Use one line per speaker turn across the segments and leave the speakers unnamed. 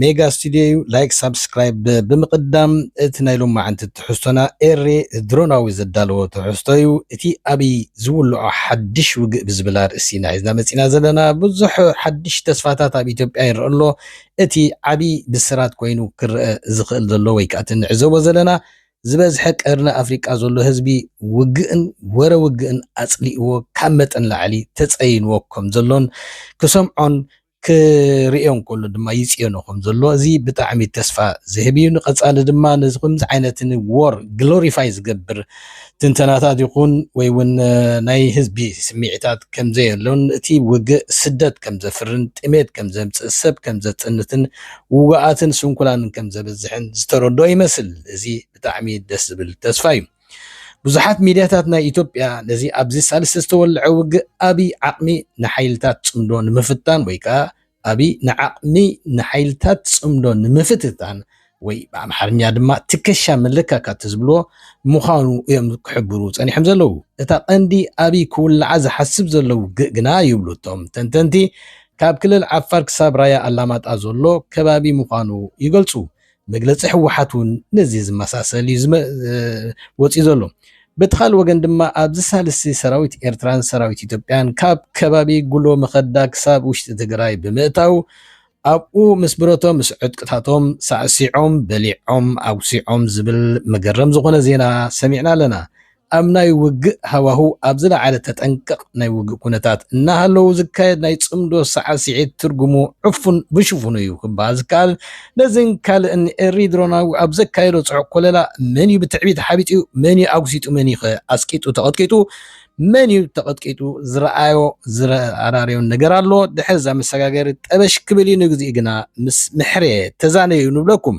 ሜጋ
ስቱድዮ እዩ ላይክ ሳብስክራይብ ብምቅዳም እቲ ናይ ሎማዓንቲ ትሕዝቶና ኤሬ ድሮናዊ ዘዳለዎ ትሕዝቶ እዩ እቲ ኣብይ ዝውልዖ ሓድሽ ውግእ ብዝብል ኣርእስቲ ኢና ሒዝና መፂና ዘለና ብዙሕ ሓድሽ ተስፋታት ኣብ ኢትዮጵያ ይረኣ ኣሎ እቲ ዓብይ ብስራት ኮይኑ ክረኣ ዝክእል ዘሎ ወይ ከዓ እቲ ንዕዘቦ ዘለና ዝበዝሐ ቀርኒ ኣፍሪቃ ዘሎ ህዝቢ ውግእን ወረ ውግእን ኣፅሊእዎ ካብ መጠን ላዕሊ ተፀይንዎ ከምዘሎን ክሰምዖን ክርእዮ እንከሎ ድማ ይጽየኖ ከም ዘሎ እዚ ብጣዕሚ ተስፋ ዝህብ እዩ። ንቐጻሊ ድማ ነዚ ከምዚ ዓይነት ንዎር ግሎሪፋይ ዝገብር ትንተናታት ይኹን ወይ እውን ናይ ህዝቢ ስምዒታት ከም ዘየሎን እቲ ውግእ ስደት ከም ዘፍርን ጥሜት ከም ዘምጽእ ሰብ ከም ዘጽንትን ውጉኣትን ስንኩላንን ከም ዘብዝሕን ዝተረድኦ ይመስል። እዚ ብጣዕሚ ደስ ዝብል ተስፋ እዩ። ብዙሓት ሚድያታት ናይ ኢትዮጵያ ነዚ ኣብዚ ሳልስቲ ዝተወልዐ ውግእ ኣብይ ዓቕሚ ንሓይልታት ፅምዶ ንምፍታን ወይ ከዓ ኣብይ ንዓቕሚ ንሓይልታት ፅምዶ ንምፍትታን ወይ ብኣምሓርኛ ድማ ትከሻ መለካካቲ ዝብልዎ ምዃኑ እዮም ክሕብሩ ፀኒሖም ዘለዉ። እታ ቀንዲ ኣብይ ክውልዓ ዝሓስብ ዘሎ ውግእ ግና ይብሉ እቶም ተንተንቲ ካብ ክልል ዓፋር ክሳብ ራያ ኣላማጣ ዘሎ ከባቢ ምዃኑ ይገልፁ። መግለፂ ህወሓት እውን ነዚ ዝመሳሰል እዩ ወፂኡ ዘሎ። በቲ ካልእ ወገን ድማ ኣብዚ ሳልስቲ ሰራዊት ኤርትራን ሰራዊት ኢትዮጵያን ካብ ከባቢ ጉሎ መኸዳ ክሳብ ውሽጢ ትግራይ ብምእታው ኣብኡ ምስ ብረቶም ምስ ዕጥቅታቶም ሳዕሲዖም በሊዖም ኣጉሲዖም ዝብል መገረም ዝኾነ ዜና ሰሚዕና ኣለና። ኣብ ናይ ውግእ ሃዋህው ኣብ ዝለዓለ ተጠንቀቕ ናይ ውግእ ኩነታት እናሃለዉ ዝካየድ ናይ ጽምዶ ሳዕሲዒት ትርጉሙ ዕፉን ብሽፉኑ እዩ ክበሃል ዝከኣል። ነዚን ካልእን ኤሪ ድሮናዊ ኣብ ዘካየዶ ጽዑቕ ኮለላ መንዩ ብትዕቢት ሓቢጡ፣ መንዩ ኣጉሲጡ መንዩኸ ኣስቂጡ ተቐጥቂጡ፣ መንዩ ተቐጥቂጡ ዝረኣዮ ዝረኣራርዮን ነገር ኣሎ። ድሕሪ'ዛ መሰጋገሪት ጠበሽ ክብል እዩ ንግዚኡ ግና ምስ ምሕሬ ተዛነዩ ንብለኩም።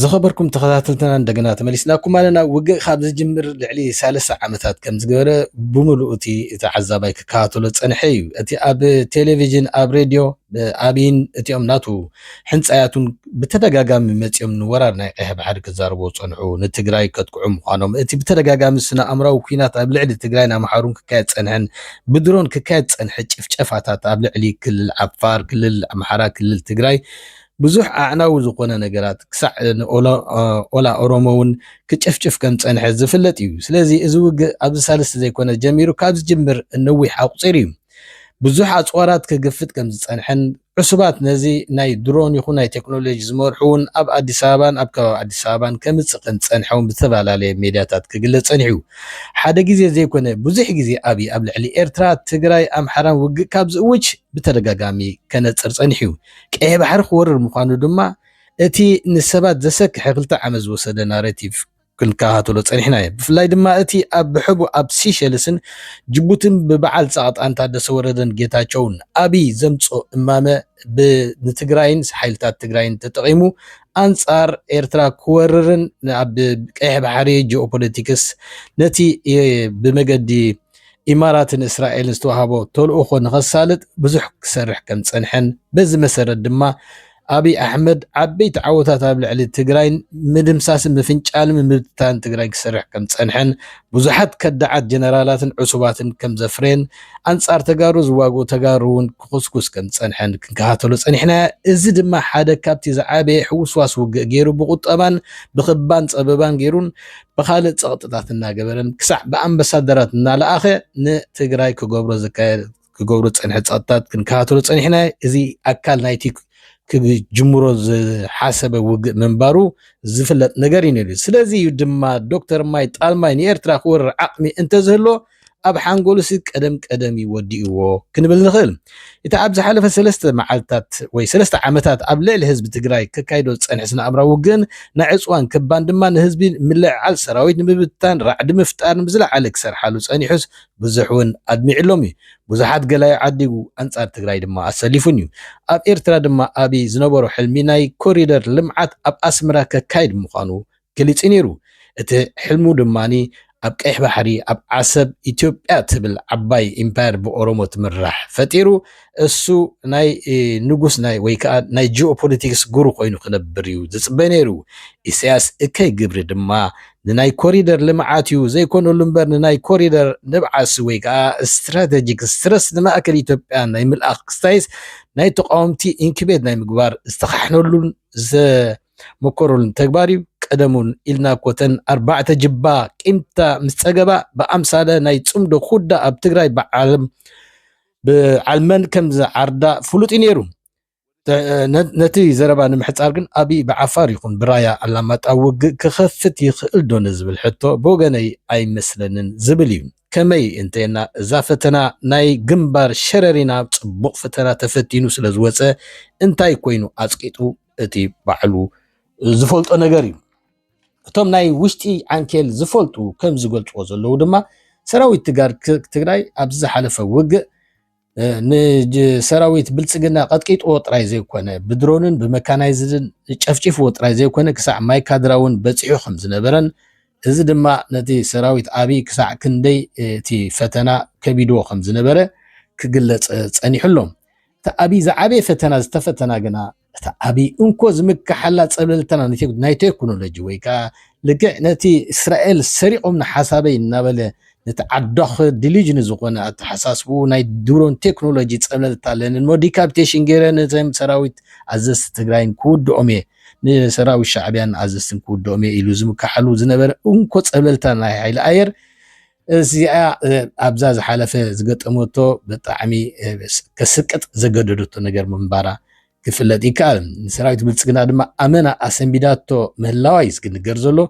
ዝኸበርኩም ተኸታተልትና እንደገና ተመሊስናኩም ኣለና። ውግእ ካብ ዝጅምር ልዕሊ ሳለስተ ዓመታት ከም ዝገበረ ብምሉእ እቲ ተዓዛባይ ክከታተሎ ጸንሐ እዩ። እቲ ኣብ ቴሌቪዥን፣ ኣብ ሬድዮ፣ ኣብይን እቲኦም ናቱ ሕንጻያቱን ብተደጋጋሚ መጺኦም ንወራር ናይ ቀይሕ ባሕሪ ክዛረቡ ጸንሑ፣ ንትግራይ ከጥቅዑ ምዃኖም፣ እቲ ብተደጋጋሚ ስነ ኣእምራዊ ኩናት ኣብ ልዕሊ ትግራይን ኣምሓሩን ክካየድ ጸንሐን ብድሮን ክካየድ ጸንሐ ጭፍጨፋታት ኣብ ልዕሊ ክልል ዓፋር፣ ክልል ኣምሓራ፣ ክልል ትግራይ ብዙሕ ኣዕናዊ ዝኾነ ነገራት ክሳዕ ኦላ ኦሮሞ ውን ክጭፍጭፍ ከም ዝጸንሐ ዝፍለጥ እዩ። ስለዚ እዚ ውግእ ኣብዚ ሳልስቲ ዘይኮነ ጀሚሩ ካብ ዝጅምር ነዊሕ ኣቁጺሩ እዩ። ብዙሕ ኣጽዋራት ክግፍጥ ከም ዝጸንሐን ዕሱባት ነዚ ናይ ድሮን ይኹን ናይ ቴክኖሎጂ ዝመርሑ ውን ኣብ ኣዲስ ኣበባን ኣብ ከባቢ ኣዲስ ኣበባን ከምጽእ ከም ዝጸንሐ ውን ብዝተፈላለየ ሜድያታት ክግለጽ ጸኒሑ እዩ። ሓደ ግዜ ዘይኮነ ብዙሕ ግዜ ኣብይ ኣብ ልዕሊ ኤርትራ፣ ትግራይ፣ ኣምሓራን ውግእ ካብ ዝእውጅ ብተደጋጋሚ ከነጽር ጸኒሑ እዩ። ቀይሕ ባሕሪ ክወርር ምዃኑ ድማ እቲ ንሰባት ዘሰክሐ ክልተ ዓመት ዝወሰደ ናረቲቭ ክንከታተሎ ጸኒሕና እዩ። ብፍላይ ድማ እቲ ኣብ ብሐቡ ኣብ ሲሸልስን ጅቡትን ብበዓል ጻቕጣን ታደሰ ወረደን ጌታቸውን ኣብይ ዘምጽኦ እማመ ብ ንትግራይን ሓይልታት ትግራይን ተጠቒሙ ኣንጻር ኤርትራ ክወርርን ኣብ ቀይሕ ባሕሪ ጂኦፖለቲክስ ነቲ ብመገዲ ኢማራትን እስራኤልን ዝተዋህቦ ተልእኾ ንኸሳልጥ ብዙሕ ክሰርሕ ከምዝፀንሐን በዚ መሰረት ድማ ኣብይ ኣሕመድ ዓበይቲ ዓወታት ኣብ ልዕሊ ትግራይን ምድምሳስን ምፍንጫልን ምብትታንን ትግራይ ክሰርሕ ከምዝፀንሐን ብዙሓት ከዳዓት ጀነራላትን ዕሱባትን ከምዘፍረየን ኣንፃር ተጋሩ ዝዋግኡ ተጋሩ እውን ክኹስኩስ ከምዝፀንሐን ክንከታተሎ ፀኒሕና እዚ ድማ ሓደ ካብቲ ዝዓበየ ሕውስዋስ ውግእ ገይሩ ብቁጠባን ብክባን ፀበባን ገይሩን ብኻልእ ፀቕጥታት እናገበረን ክሳዕ ብኣምበሳደራት እናለኣኸ ንትግራይ ክገብሮ ዝካየድ ክገብሩ ዝፀንሐ ፀቕጥታት ክንከታተሎ ፀኒሕና እዚ ኣካል ናይቲ ክጅምሮ ዝሓሰበ ውግእ ምንባሩ ዝፍለጥ ነገር እዩ ነይሩ። ስለዚ እዩ ድማ ዶክተር ማይ ጣልማይ ንኤርትራ ክወርር ዓቕሚ እንተዝህሎ ኣብ ሓንጎሉሲ ቀደም ቀደም እዩ ወዲእዎ ክንብል ንኽእል። እቲ ኣብ ዝሓለፈ ሰለስተ መዓልታት ወይ ሰለስተ ዓመታት ኣብ ልዕሊ ህዝቢ ትግራይ ከካይዶ ዝጸንሐ ስነኣእምራዊ ውግእን ናይ ዕጽዋን ክባን ድማ ንህዝቢ ምልዕዓል ሰራዊት ንምብትታን ራዕዲ ምፍጣርን ብዝለዓለ ክሰርሓሉ ጸኒሑስ ብዙሕውን ኣድሚዕሎም እዩ። ብዙሓት ገላዩ ዓዲጉ ኣንጻር ትግራይ ድማ ኣሰሊፉን እዩ። ኣብ ኤርትራ ድማ ኣብይ ዝነበሮ ሕልሚ ናይ ኮሪደር ልምዓት ኣብ ኣስመራ ከካይድ ምዃኑ ገሊጹ ነይሩ። እቲ ሕልሙ ድማ ኣብ ቀይሕ ባሕሪ ኣብ ዓሰብ ኢትዮጵያ ትብል ዓባይ ኢምፓየር ብኦሮሞ ትምራሕ ፈጢሩ እሱ ናይ ንጉስ ናይ ወይ ከኣ ናይ ጂኦፖለቲክስ ጉሩ ኮይኑ ክነብር እዩ ዝጽበ ነይሩ። ኢሰያስ እከይ ግብሪ ድማ ንናይ ኮሪደር ልምዓት እዩ ዘይኮነሉ እምበር ንናይ ኮሪደር ንብዓሲ ወይ ከኣ ስትራተጂክ ስትረስ ንማእከል ኢትዮጵያ ናይ ምልኣኽ ክስታይስ ናይ ተቃወምቲ ኢንክቤት ናይ ምግባር ዝተኻሕነሉን ምቁሩን ተግባር እዩ ቀደሙን ኢልና እኮ ተን ኣርባዕተ ጅባ ቂምታ ምስ ጸገባ ብኣምሳለ ናይ ጽምዶ ኩዳ ኣብ ትግራይ ብዓለም ብዓልመን ከም ዝዓርዳ ፍሉጥ እዩ ነይሩ ነቲ ዘረባ ንምሕፃር ግን ኣብይ ብዓፋር ይኹን ብራያ ኣላማጣ ውግእ ክኸፍት ይኽእል ዶ ንዝብል ሕቶ ብወገነይ ኣይመስለንን ዝብል እዩ። ከመይ እንተና እዛ ፈተና ናይ ግንባር ሸረሪና ጽቡቕ ፈተና ተፈቲኑ ስለ ዝወፀ እንታይ ኮይኑ ኣጽቂጡ እቲ ባዕሉ ዝፈልጦ ነገር እዩ እቶም ናይ ውሽጢ ዓንኬል ዝፈልጡ ከም ዝገልፅዎ ዘለዉ ድማ ሰራዊት ትግራይ ኣብዚ ዝሓለፈ ውግእ ንሰራዊት ብልፅግና ቀጥቂጥዎ ጥራይ ዘይኮነ ብድሮንን ብመካናይዝድን ጨፍጪፍዎ ጥራይ ዘይኮነ ክሳዕ ማይ ካድራ እውን በፂሑ ከም ዝነበረን እዚ ድማ ነቲ ሰራዊት ኣብይ ክሳዕ ክንደይ እቲ ፈተና ከቢድዎ ከም ዝነበረ ክግለፅ ፀኒሑ ኣሎ። እቲ ኣብይ ዝዓበየ ፈተና ዝተፈተና ግና እታ ኣብይ እንኮ ዝምከሓላ ፀብለልተና ናይ ቴክኖሎጂ ወይ ከዓ ልክዕ ነቲ እስራኤል ሰሪቖምኒ ሓሳበይ እናበለ ነቲ ዓዳኽ ዲሊጅኒ ዝኾነ ኣተሓሳስብኡ ናይ ድሮን ቴክኖሎጂ ፀብለልታ ኣለንን እሞ ዲካፒቴሽን ገይረ ነዘም ሰራዊት ኣዘዝቲ ትግራይን ክውድኦም እየ ንሰራዊት ሻዕቢያን ኣዘዝትን ክውድኦም እየ ኢሉ ዝምከሓሉ ዝነበረ እንኮ ፀብለልታ ናይ ሓይሊ ኣየር እዚኣ ኣብዛ ዝሓለፈ ዝገጠመቶ ብጣዕሚ ከስቅጥ ዘገደደቶ ነገር ምንባራ ክፍለጥ ይከኣል ንሰራዊት ብልፅግና ድማ ኣመና ኣሰንቢዳቶ ምህላዋ እዩ ዝግንገር ዘሎ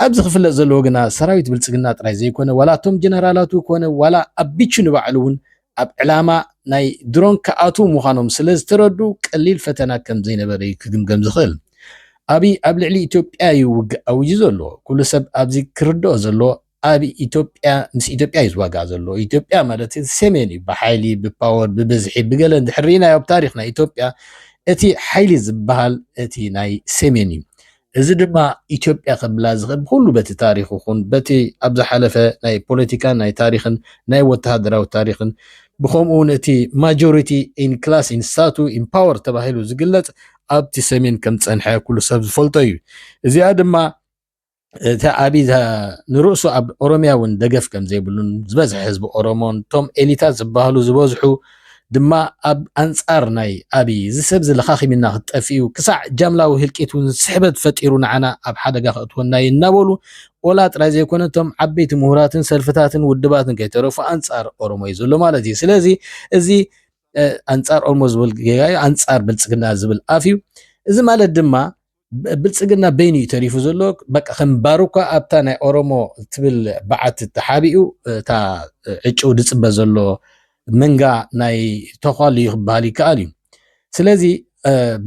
ኣብዚ ክፍለጥ ዘለዎ ግና ሰራዊት ብልፅግና ጥራይ ዘይኮነ ዋላ እቶም ጀነራላቱ ኮነ ዋላ ኣቢቹ ንባዕሉ እውን ኣብ ዕላማ ናይ ድሮን ክኣትዉ ምዃኖም ስለ ዝተረዱ ቀሊል ፈተና ከም ዘይነበረ እዩ ክግምገም ዝኽእል ኣብይ ኣብ ልዕሊ ኢትዮጵያ እዩ ውግእ ኣውጁ ዘሎ ኩሉ ሰብ ኣብዚ ክርድኦ ዘለዎ ኣብ ኢትዮጵያ ምስ ኢትዮጵያ እዩ ዝዋጋእ ዘሎ ኢትዮጵያ ማለት ሰሜን እዩ ብሓይሊ ብፓወር ብብዝሒ ብገለ እንድሕር ርኢናዮ ኣብ ታሪክ ናይ ኢትዮጵያ እቲ ሓይሊ ዝበሃል እቲ ናይ ሰሜን እዩ እዚ ድማ ኢትዮጵያ ከብላ ዝኽእል ብኩሉ በቲ ታሪክ ይኹን በቲ ኣብ ዝሓለፈ ናይ ፖለቲካን ናይ ታሪክን ናይ ወተሃደራዊ ታሪክን ብከምኡ እውን እቲ ማጆሪቲ ኢን ክላስ ኢን ሳቱ ኢን ፓወር ተባሂሉ ዝግለፅ ኣብቲ ሰሜን ከም ዝፀንሐ ኩሉ ሰብ ዝፈልጦ እዩ እዚኣ ድማ እታ ኣብይ ንርእሱ ኣብ ኦሮምያ እውን ደገፍ ከም ዘይብሉን ዝበዝሐ ህዝቢ ኦሮሞን እቶም ኤሊታት ዝበሃሉ ዝበዝሑ ድማ ኣብ ኣንጻር ናይ ኣብይ እዚ ሰብ እዚ ለኻኺምና ክትጠፍኡ ክሳዕ ጃምላዊ ህልቂት እውን ስሕበት ፈጢሩ ንዓና ኣብ ሓደጋ ከእትወና እዩ እናበሉ ኦላ ጥራይ ዘይኮነ እቶም ዓበይቲ ምሁራትን ሰልፍታትን ውድባትን ከይተረፉ ኣንጻር ኦሮሞ እዩ ዘሎ ማለት እዩ ስለዚ እዚ ኣንጻር ኦሮሞ ዝብል ጌጋ እዩ ኣንጻር ብልጽግና ዝብል ኣፍ እዩ እዚ ማለት ድማ ብልጽግና በይኑ እዩ ተሪፉ ዘሎ በቃ ከም ባሩካ ኣብታ ናይ ኦሮሞ ትብል በዓት ተሓቢኡ እታ ዕጭው ዝጽበ ዘሎ መንጋ ናይ ተኳሉ እዩ ክበሃል ይከኣል እዩ ስለዚ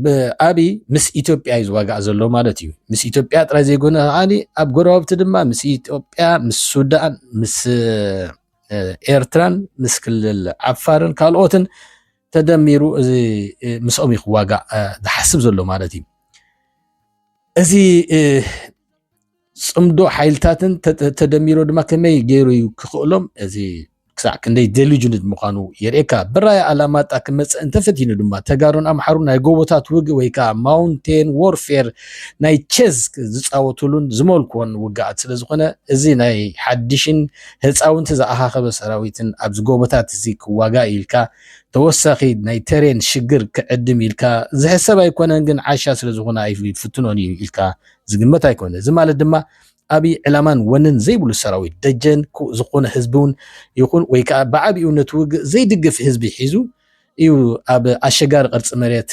ብኣብይ ምስ ኢትዮጵያ እዩ ዝዋጋእ ዘሎ ማለት እዩ ምስ ኢትዮጵያ ጥራይ ዘይኮነ ከዓኒ ኣብ ጎረባብቲ ድማ ምስ ኢትዮጵያ ምስ ሱዳን ምስ ኤርትራን ምስ ክልል ዓፋርን ካልኦትን ተደሚሩ እዚ ምስኦም እዩ ክዋጋእ ዝሓስብ ዘሎ ማለት እዩ እዚ ፅምዶ ሓይልታትን ተደሚሮ ድማ ከመይ ገይሩ እዩ ክኽእሎም እዚ ክሳዕ ክንደይ ደሊጅንት ምዃኑ የርእካ ብራይ ኣላማጣ ክመፅእ እንተፈቲኑ ድማ ተጋሩን ኣምሓሩ ናይ ጎቦታት ውግ ወይ ከዓ ማውንቴን ዎርፌር ናይ ቸዝ ዝፃወትሉን ዝመልኮን ውግኣት ስለዝኾነ እዚ ናይ ሓድሽን ህፃውንቲ ዝኣኻኸበ ሰራዊትን ኣብዚ ጎቦታት እዚ ክዋጋእ ኢልካ ተወሳኺ ናይ ተሬን ሽግር ክዕድም ኢልካ ዝሕሰብ ኣይኮነን ግን ዓሻ ስለ ዝኾነ ኣይፍትኖን እዩ ኢልካ ዝግመት ኣይኮነ እዚ ማለት ድማ ኣብይ ዕላማን ወንን ዘይብሉ ሰራዊት ደጀን ዝኾነ ህዝቢ እውን ይኹን ወይ ከዓ ብዓቢኡ ነቲ ውግእ ዘይድግፍ ህዝቢ ሒዙ እዩ ኣብ ኣሸጋሪ ቅርፂ መሬት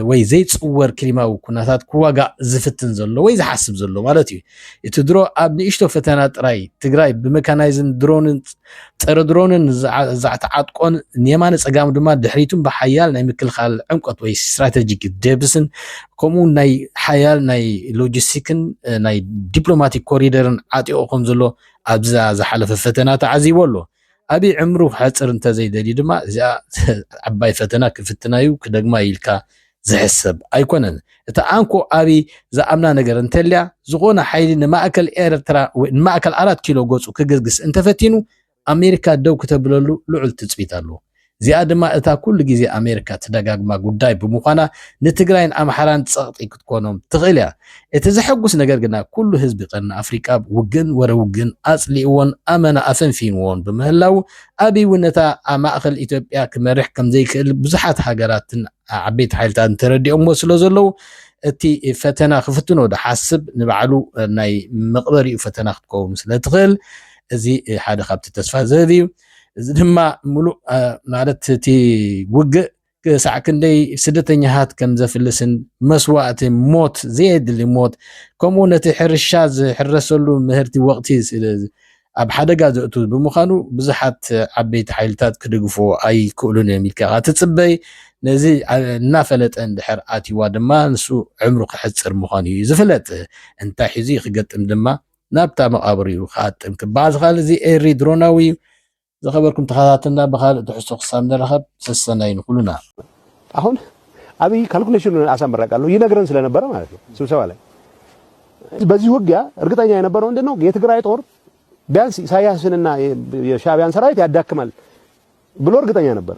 ወይ ዘይፅወር ክሊማዊ ኩነታት ክዋጋእ ዝፍትን ዘሎ ወይ ዝሓስብ ዘሎ ማለት እዩ። እቲ ድሮ ኣብ ንእሽቶ ፈተና ጥራይ ትግራይ ብመካናይዝን ድሮንን ፀረ ድሮንን ዛዕተዓጥቆን ንየማነ ፀጋሙ ድማ ድሕሪቱን ብሓያል ናይ ምክልኻል ዕምቆት ወይ ስትራቴጂክ ደብስን ከምኡ ናይ ሓያል ናይ ሎጂስቲክን ናይ ዲፕሎማቲክ ኮሪደርን ዓጢቑ ከም ዘሎ ኣብዛ ዝሓለፈ ፈተና ተዓዚቦ ኣሎ። ኣብይ ዕምሩ ክሐጽር እንተዘይደልዩ ድማ እዚኣ ዓባይ ፈተና ክፍትናዩ ክደግማዩ ኢልካ ዝሕሰብ ኣይኮነን እታ ኣንኮ ኣብይ ዝኣምና ነገር እንተልያ ዝኾነ ሓይሊ ንማእከል ኤርትራ ወይ ንማእከል ኣራት ኪሎ ገጹ ክግስግስ እንተፈቲኑ ኣሜሪካ ደው ክተብለሉ ልዑል ትጽቢት ኣለዎ እዚኣ ድማ እታ ኩሉ ግዜ ኣሜሪካ ትደጋግማ ጉዳይ ብምዃና ንትግራይን ኣምሓራን ጸቕጢ ክትኮኖም ትኽእል እያ። እቲ ዘሐጉስ ነገር ግና ኩሉ ህዝቢ ቀርኒ ኣፍሪቃ ውግእን ወረ ውግእን ኣጽሊእዎን ኣመና ኣፈንፊንዎን ብምህላዉ ኣቢይ እውን ነታ ኣብ ማእከል ኢትዮጵያ ክመርሕ ከምዘይክእል ብዙሓት ሃገራትን ዓበይቲ ሓይልታትን ተረዲኦምዎ ስለዘለዉ እቲ ፈተና ክፍትኖ ዶ ሓስብ ንባዕሉ ናይ መቕበሪኡ ፈተና ክትከውን ስለትኽእል እዚ ሓደ ካብቲ ተስፋ ዝህብ እዩ። እዚ ድማ ምሉእ ማለት እቲ ውግእ ክሳዕ ክንደይ ስደተኛታት ከም ዘፍልስን መስዋእቲ ሞት ዘየድሊ ሞት ከምኡ ነቲ ሕርሻ ዝሕረሰሉ ምህርቲ ወቕቲ ኣብ ሓደጋ ዘእቱ ብምዃኑ ብዙሓት ዓበይቲ ሓይልታት ክድግፎ ኣይክእሉን እዮም ኢልካ ትጽበይ ነዚ እናፈለጠ እንድሕር ኣትዋ ድማ ንሱ ዕምሩ ክሕፅር ምዃኑ እዩ ዝፍለጥ እንታይ ሒዙ ክገጥም ድማ ናብታ መቓብር እዩ ክኣጥም ክበዓ ዝኽኣል እዚ ኤሪ ድሮናዊ እዩ። ዝኸበርኩም ተኸታተልና ብኻልእ ትሕዝቶ ክሳብ ንራኸብ ሰሰናዩ ንኹሉና። አሁን
አብይ ካልኩሌሽኑን አሳምራቃሉ ይነግረን ስለነበረ ማለት ነው ስብሰባ ላይ በዚህ ውጊያ እርግጠኛ የነበረው ምንድን ነው የትግራይ ጦር ቢያንስ ኢሳያስንና የሻቢያን ሰራዊት ያዳክማል ብሎ እርግጠኛ ነበር።